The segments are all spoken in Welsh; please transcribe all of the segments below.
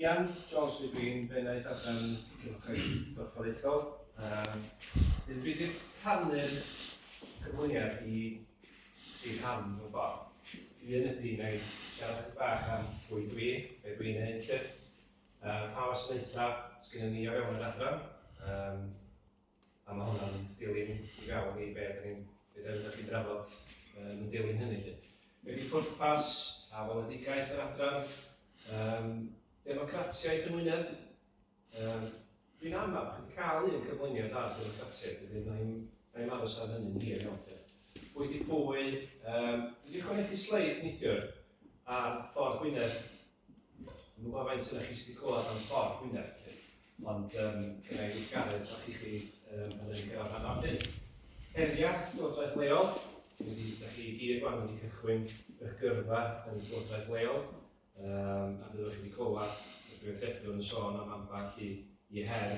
Ian Jones yw fi, yn Bennaeth Adran Cylchgrawn Gorfforaethol. Um, dwi wedi rhannu'r cyflwyniad i chi rhan mewn ffordd. Dwi yn y dyn ei siarad chi bach am bwy dwi, be dwi'n ei llyf, uh, pa wasanaethau sydd gen i o fewn yr adran, um, A mae hwnna'n dilyn i fewn i be dyn ni'n be dyn ni'n drafod yn dilyn hynny lle. Be di pwrpas a weledigaeth yr adran? Um, democratiaeth yn Wynedd. Um, Dwi'n amau, chi'n cael un cyflwyniad ar democratiaeth, wedyn na i'n na aros ar hynny'n hir iawn. Pwy di pwy, um, wedi chwanegu sleid neithiwr ar ffordd Gwynedd Yn gwybod faint sydd chi sydd wedi clywed am ffordd Gwynedd, chi. Ond um, gyda i weithgaredd, da chi chi um, yn ei gyrraedd rhan o'r hyn. Heriau, Llywodraeth Leol, wedi, da chi gyd wan wedi cychwyn eich gyrfa yn y Llywodraeth Leol, um, a byddwch chi wedi clywed y Prifeithredwr yn sôn am ambell i, i her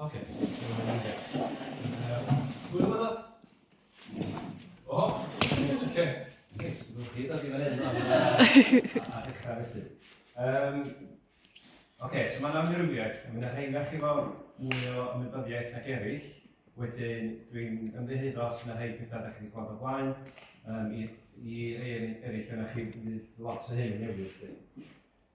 Ok, Hwyl yma. O, yes, ok. Yes, dwi'n chi dod i fan hyn. A dechrau felly. Um, ok, so mae'n amrywiaeth. Mae'n rhaid chi fawr mwy o ymwybyddiaeth ag eraill. Wedyn, dwi'n ymddeheiddo os yna rhai pethau da chi'n gweld o blaen. Um, i, i rei eraill yna chi, bydd lot o hyn yn newid.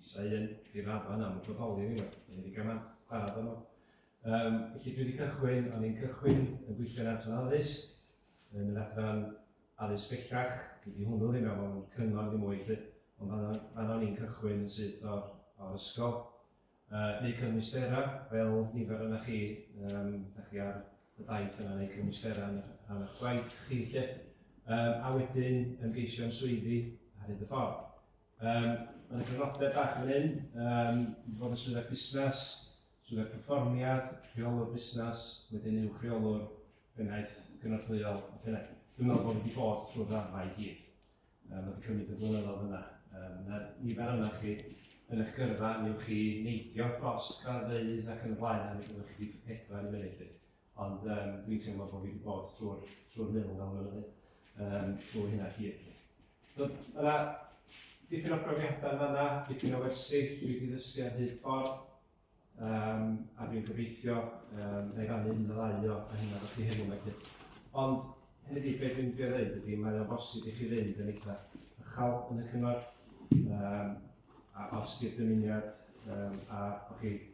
Isa un, dim arfan am y bodoli ni, neu ddigon am siarad am nhw. Um, felly dwi wedi cychwyn, o'n i'n cychwyn yn gweithio'n adran addysg, yn yr adran addysg bellach, wedi hwnnw ddim efo yn cyngor ddim mwy lle, ond fan o'n i'n cychwyn yn syth o'r, or ysgol. Uh, neu cymwystera, fel nifer yna chi, um, da chi ar y daith yna neu cymwystera yn rhan o'ch gwaith chi lle. Um, a wedyn ymgeisio am swyddi ar hyd y ffordd. Um, mae'n gyfnodau bach yn hyn, um, i fod yn swyddog busnes, swyddog perfformiad, rheolwr busnes, wedyn uwch rheolwr, bennaeth gynorthwyol a pennaeth. Dwi'n meddwl bod wedi bod trwy'r rafa i gyd. Um, mae wedi cymryd y blynyddoedd yna. Um, na nifer yna chi yn eich gyrfa, neu chi neidio dros graddfeydd ac yn y blaen, a mi ydych chi wedi pedwar yn munud. Ond um, dwi'n teimlo bod fi wedi bod trwy'r trwy mil mewn mynyddu, um, trwy hynna chi. Dod, yna, dipyn o brofiadau fanna, dipyn o wersi, dwi wedi ddysgu ar hyd ffordd, um, a dwi'n gobeithio um, na i rannu un o ddau o a hynna chi hyn yma chi. Ond hefyd beth dwi'n dweud dweud ydy mae o'n bosib i chi fynd yn eitha ychal yn y cyngor, um, a os di'r dymuniad um, a o'ch chi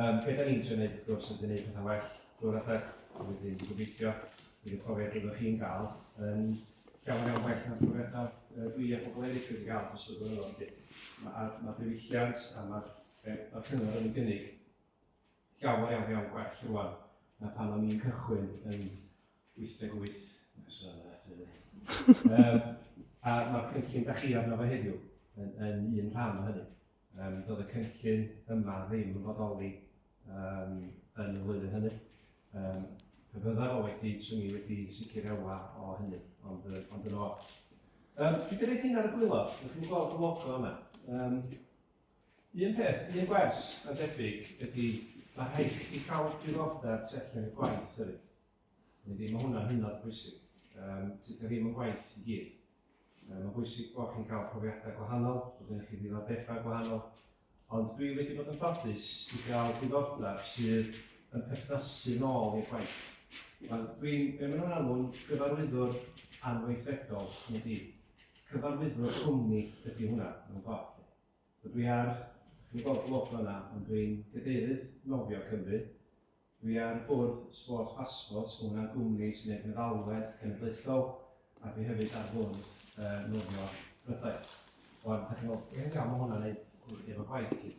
Um, be da ni'n trio gwneud, wrth gwrs, ydy gwneud pethau well drwy'r adeg, a wedyn gobeithio bydd y profiad efo chi'n gael yn llawn iawn well na'r profiadau uh, dwi a pobl eraill wedi gael dros y blynyddoedd. Mae'r ma, ma diwylliant a mae'r e, ma cyngor yn gynnig llawer iawn iawn gwell rwan na pan o'n i'n cychwyn yn 88 um, a mae'r cynllun da chi arno fe heddiw yn, yn un rhan o hynny. Yym, doedd y cynllun yma ddim yn fodoli um, yn y flwyddyn hynny. Um, pe byddaf o wedi, swn i wedi sicr ewa o hynny, ond, ond yn o'r. Um, dwi wedi rhaid hyn ar y gwylod, ydych chi'n gweld y logo yma. Um, un peth, un gwers yn debyg ydy, mae rhaid i chi cael diddordeb tu allan i'r gwaith hefyd. Yndi, mae hwnna'n hynod bwysig. Um, Tydio ddim yn gwaith i gyd. Um, mae'n bwysig bod chi'n cael profiadau gwahanol, bod yn chi ddiddordebau gwahanol, ond dwi wedi bod yn ffodus i gael diddordeb sydd yn perthnasu nôl i'r gwaith. Dwi'n, be maen nhw'n alw'n gyfarwyddwr anweithredol yn y dîm. Cyfarwyddwr cwmni ydy hwnna, mewn ffordd. Dwi ar, dwi'n gweld blog yna, ond dwi'n gadeirydd nofio Cymru, Dwi ar y bwrdd Sport Passport, ma' hwnna'n gwmni sy'n neud meddalwedd cenedlaethol, a dwi hefyd ar fwrdd yy nofio Prydain. Wan, dach chi'n meddwl, be' yn ddiawl ma' hwnna'n neud efo gwaith ti?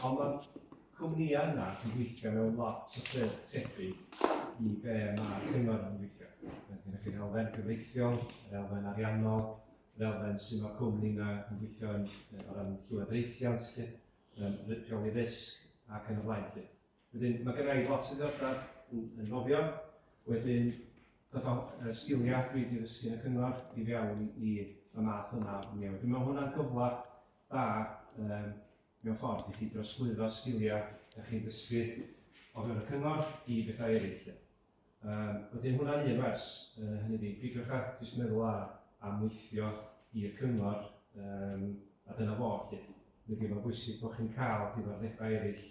Ond ma'r cwmnïa yna yn gweithio mewn lot o ffyrdd tebyg i be' ma' cyngor yn gweithio. Mae gennych chi'r elfen cyfreithiol, yr elfen ariannol, yr elfen su' ma'r cwmni yna yn gweithio yn yy o ran llywodraethiant lly, yym ry- rheoli risg ac yn y blaen lly. Wedyn, mae gynna i lot o ddiddordeb yn, yn nofio. Wedyn, dyma uh, sgiliau dwi wedi ddysgu yn y cyngor i fewn i y math yma o newid. Dwi'n meddwl hwnna'n gyfle da um, mewn ffordd i chi drosglwyddo sgiliau ydych chi'n dysgu o fewn y cyngor i bethau eraill. Yym, wedyn hwnna'n un wers, yy hynny ydi, peidiwch â jyst meddwl a, am weithio i'r cyngor, yym, a dyna fo 'lly. Hynny ydi, mae'n bwysig bod chi'n cael diddordebau eraill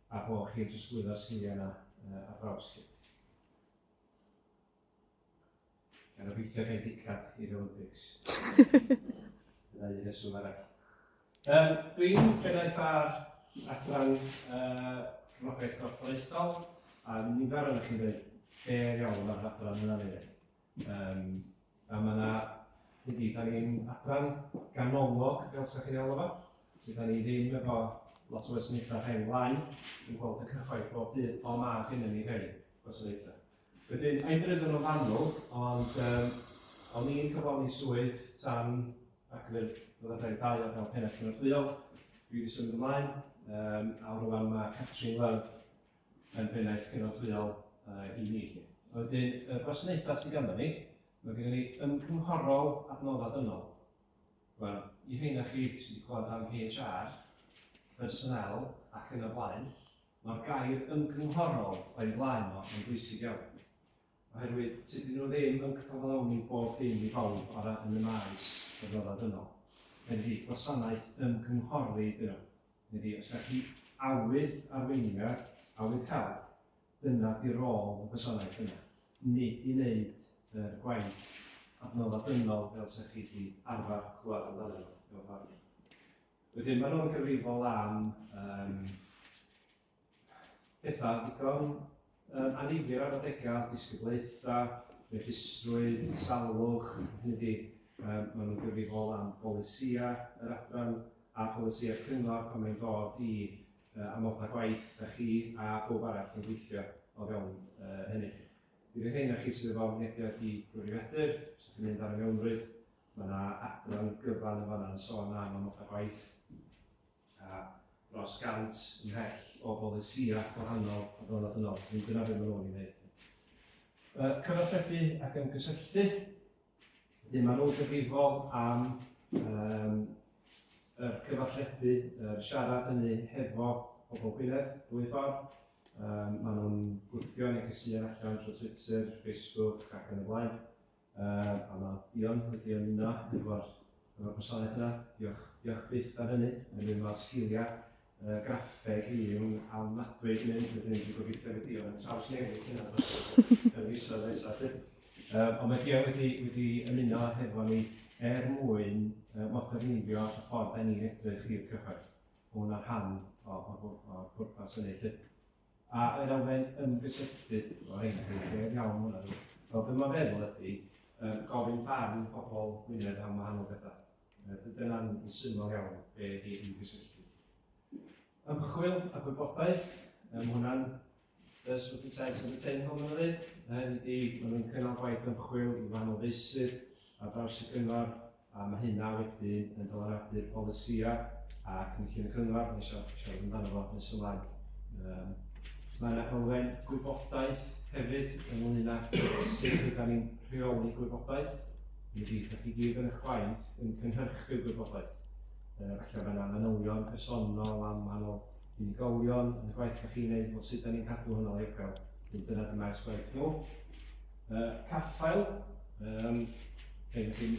a bod chi'n trosglwyddo'r sgiliau yna yy ar draws 'lly. Mae'n obeithio gael dicap i'r Olympics. Dyna un reswm arall. Um, Dwi'n pennaeth ar adran uh, cefnogaeth gorfforaethol, a nifer o'n chi'n dweud be iawn ar adran yna neu um, A mae yna, dydy, da ni'n adran ganolog, fel sy'n chi'n alw fo, sydd da ni ddim efo lot o wasanaethau rhain lai, yn gweld y cyhoedd bob dydd, ond mae gennym ni rei gwasanaethau. Wedyn, edrych yn ofannol, ond um, o'n i'n cyflawni swydd tan ac fe fyddai'n dau o'r fel pennaeth cynorthwyol. Dwi wedi symud ymlaen, um, a rwan mae Catrin Love yn pennaeth cynorthwyol uh, i ni. Wedyn, y gwasanaethau sydd ganddo ni, mae gennym ni ymgynghorol adnoddau dynol. Wel, i rheina chi sydd wedi clywed am HR, personel ac yn y blaen, Mae'r gair ymgynghorol o'i flaen o yn bwysig iawn, oherwydd tydyn nhw ddim yn cyflawni bob dim i bawb bara yn y maes adnoddau dynol. Mae wedi gwasanaeth ymgynghori iddyn nhw. Ydy, os da chi awydd arweiniad, awydd help, dyna di rôl y gwasanaeth yna, nid i wneud yr gwaith adnoddau dynol fel sa chi di arfer clywed amdanyn nhw, mewn ffordd. Wedyn maen nhw'n gyfrifol am um, pethau digon um, anifir ar adegau, disgyblaethau, registrwydd, salwch, hynny di, um, maen nhw'n gyfrifol am bolisiau yr adran a polisiau cyngor pan mae'n dod i uh, amodau gwaith da chi a bob arall yn gweithio o fewn uh, hynny. Bydd y hyn a chi sydd efo mynediad i gyfrifiadur, sy'n mynd ar y mewnrwyd, Mae yna adran gyfan yn fanna'n sôn am amod a gwaith a dros gant ymhell o bolisïau gwahanol a dod yn ôl. Dwi'n dyna beth maen nhw'n ei wneud. Uh, cyfathrebu ac ymgysylltu. Wedyn maen nhw'n gyfrifol am um, y cyfathrebu, uh, siarad hynny hefo pobl Gwynedd, dwy ffordd. Um, maen nhw'n gwthio neu gysuon allan trwy Twitter, Facebook ac yn y blaen. Yy, a ma', Ion, wedi ymuno efo'r, efo'r gwasanaeth yna. Diolch, diolch byth am hynny. Mae Ion, ma'r sgilia yy graffeg hi yn ofnadwy gneud hynny, wedyn dwi'n gobeithio fydd Ion yn trawsnewid hynna yn y misoedd nesa 'lly. Yy, ond mae Ion wedi, wedi ymuno hefo ni er mwyn yy moderniddio y ffordd 'dan ni'n edrych i'r cyhoedd. Mae hwnna'n rhan o, o, o'r pwrpas hynny 'lly. A yr elfen ymgysylltu, o rhaid i chi gael iawn hwnna. Fel dyma feddwl ydy, uh, gofyn barn pobl Gwynedd am wahanol bethau. Uh, Dyna'n syml iawn be ydy ymgysylltu. Ymchwil a gwybodaeth, um, hwnna'n y swt y saes yn y ten hwn yn dweud, uh, ydy, maen nhw'n cynnal gwaith ymchwil i wahanol feysydd, ar draws y Cyngor, a mae hynna wedyn yn dylanwadu'r polisïau a cynllun y Cyngor, nes o'n siarad amdano fo nes ymlaen. Um, mae yna elfen gwybodaeth hefyd ynglyn â sut ydym ni'n rheoli gwybodaeth. Mi fydd ydych chi gyd yn eich gwaith yn cynhyrchu gwybodaeth. Uh, felly mae yna manylion personol am wahanol unigolion yn y gwaith ydych chi'n gwneud, fel sut ydym ni'n cadw hwnna'n legal. Dyna dyma'r gwaith nhw. Uh, caffael, um, hyn ydych chi'n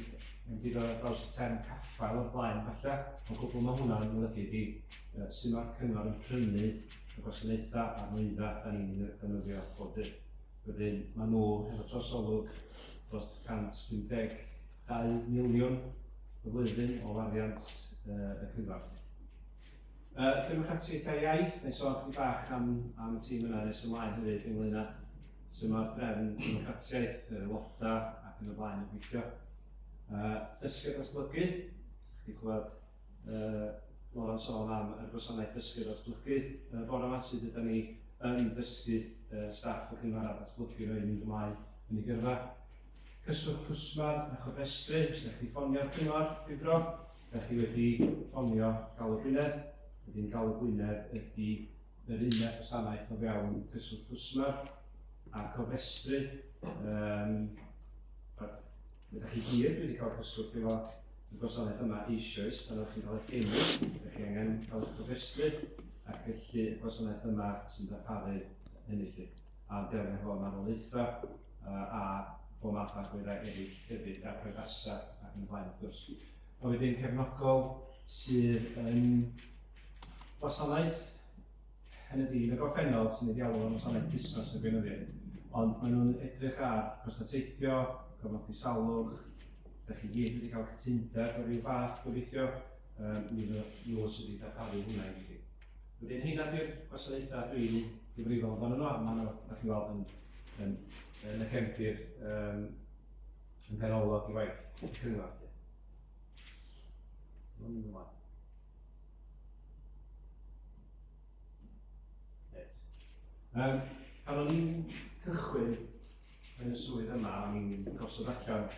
mynd i ddod draws y term caffael o'r blaen falle, ond gwbl mae hwnna'n golygu ydy uh, sy'n mae'r cyngor yn prynu y gwasanaethau a'r nwyddau da ni'n ei ddefnyddio bob dydd. Wedyn mae nhw hefo trosolwg dros 152 miliwn y flwyddyn o wariant uh, y cyngor. Uh, Cymrwch at Seithiau Iaith, neu sôn chdi bach am, am y tîm yna nes ymlaen hefyd ynglyn â sy'n mae'r drefn democratiaeth, yr aelodau ac yn y blaen yn gweithio. Uh, dysgu a datblygu, chdi clywed uh, Lauren sôn am y gwasanaeth dysgu a datblygu. Uh, bore yma sydd ydyn ni yn dysgu uh, staff y cyngor a datblygu roi mynd ymlaen yn ei gyrfa. Cyswllt cwsmer a chofrestru, os ydych chi ffonio'r cyngor, difro. Dach chi wedi ffonio Galw Gwynedd, wedyn Galw Gwynedd ydy yr uned gwasanaeth o fewn cyswllt FUSMA a cofrestru. Um, Ydych chi gyd wedi cael cyswllt efo y gwasanaeth yma eisoes pan ydych chi'n cael eich geni, ydych chi angen cael eich cofrestru ac felly y gwasanaeth yma sy'n darparu hynny chi. ar ddelfrydoedd marwolaethau a phob math o agweddau eraill hefyd, a priodasau ac yn y blaen wrth gwrs. Ond wedyn cefnogol sydd yn wasanaeth, hynny ydy, yn y gorffennol sy'n ei ddialw yn wasanaeth busnes y gweinyddiaeth, ond maen nhw'n edrych ar gostau teithio, cofnodi salwch, da chi gyd wedi cael cytundeb o ryw fath gobeithio, um, mi fydd nhw sydd wedi darparu hwnna i chi. Wedyn heina di'r gwasanaethau dwi'n gyfrifol amdano nhw, a maen nhw, da chi'n weld, yn, yn, yn y cefndir um, yn ganolog i waith y cyngor. Yes. Um, pan o'n i'n cychwyn yn y swydd yma, o'n i'n gosod allan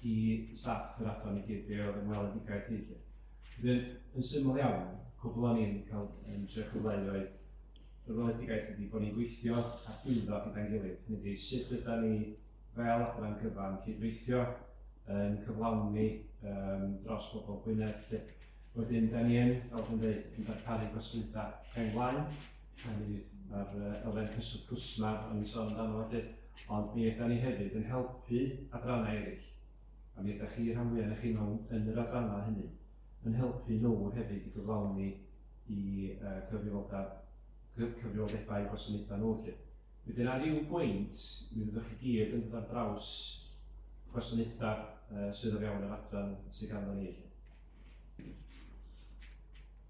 i staff yr adran i gyd be oedd yn weledigaeth i chi. Wedyn, yn syml iawn, cwbl o'n i'n cael yn tre cyfleu oedd y weledigaeth ydy bod ni'n gweithio a llwyddo gyda'n gilydd. Hynny ydy, sut yda ni fel adran gyfan cydweithio yn cyflawni um, dros bobl Gwynedd. Wedyn, da ni yn, fel dwi'n dweud, yn darparu gwasanaethau rheng flaen, Hynny fydd, mae'r elfen cyswllt cwsmer o'n i'n sôn amdano felly, ond mi ydan ni hefyd yn helpu adrannau eraill, a mi ydych chi rhan fwyaf yn chi mewn yn yr adrannau hynny, yn helpu nhw hefyd i gyflawni i uh, cyfrifoldeb, cyfrifoldebau gwasanaethau nhw felly. Wedyn ar ryw bwynt, mi fyddwch chi gyd yn dod ar draws gwasanaethau uh, sydd o fewn yr adran sydd ganddo ni felly.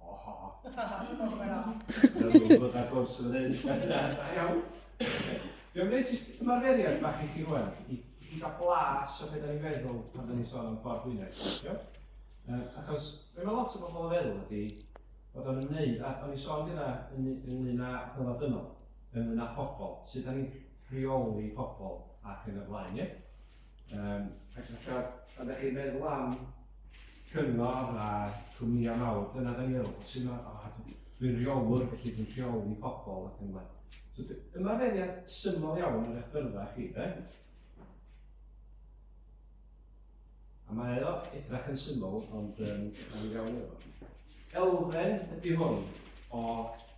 Oho. Dwi'n gwybod ar gwrs yn hyn. Da iawn. Dwi'n gwneud jyst ymarferiad bach i chi rwan, i chi gael blas o beth da ni'n feddwl pan da ni'n sôn am ffordd Gwynedd. Um, achos fe mae lot o bobl o feddwl ydy bod o'n ymwneud, a o'n i'n sôn gyda ynglyn â dyfod dynol, ynglyn â pobl, sydd da ni'n rheoli pobl ac yn y blaen, ie? Um, ac felly, pan ydych chi'n meddwl am cyngor a cwmnïau mawr, dyna da ni'n meddwl, sy'n dwi'n rheolwr, felly dwi'n rheoli pobl ac yn blaen. So, ymarferiad syml iawn yn eich byrfa chi, de? A mae o edrach yn syml, ond um, yn iawn efo. Elfen ydy hwn o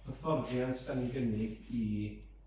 hyfforddiant da ni'n gynnig i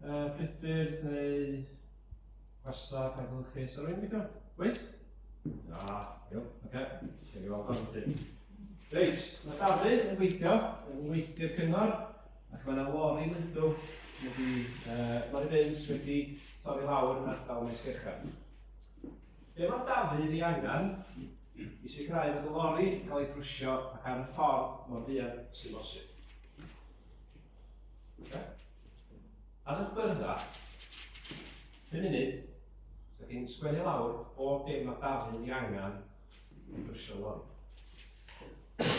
Uh, priffyrdd neu gwesta penhylchus ar ein gweithio? Wyt? Na, iawn, oce. Dwi'n gweld pan ydyn. Reit, mae Dafydd yn gweithio, yn weithio'r cyngor, ac mae yna lori lydw wedi, uh, lori beins wedi torri lawr yn ardal Maes Gerchar. Be mae Dafydd i angen i sicrhau bod y lori yn cael ei thrwsio ac ar y ffordd mor fuan sy'n bosib? Ar eich byrddau, pum munud, so chi'n sgwennu lawr bob dim mae Dafydd i angen i brwsio lori.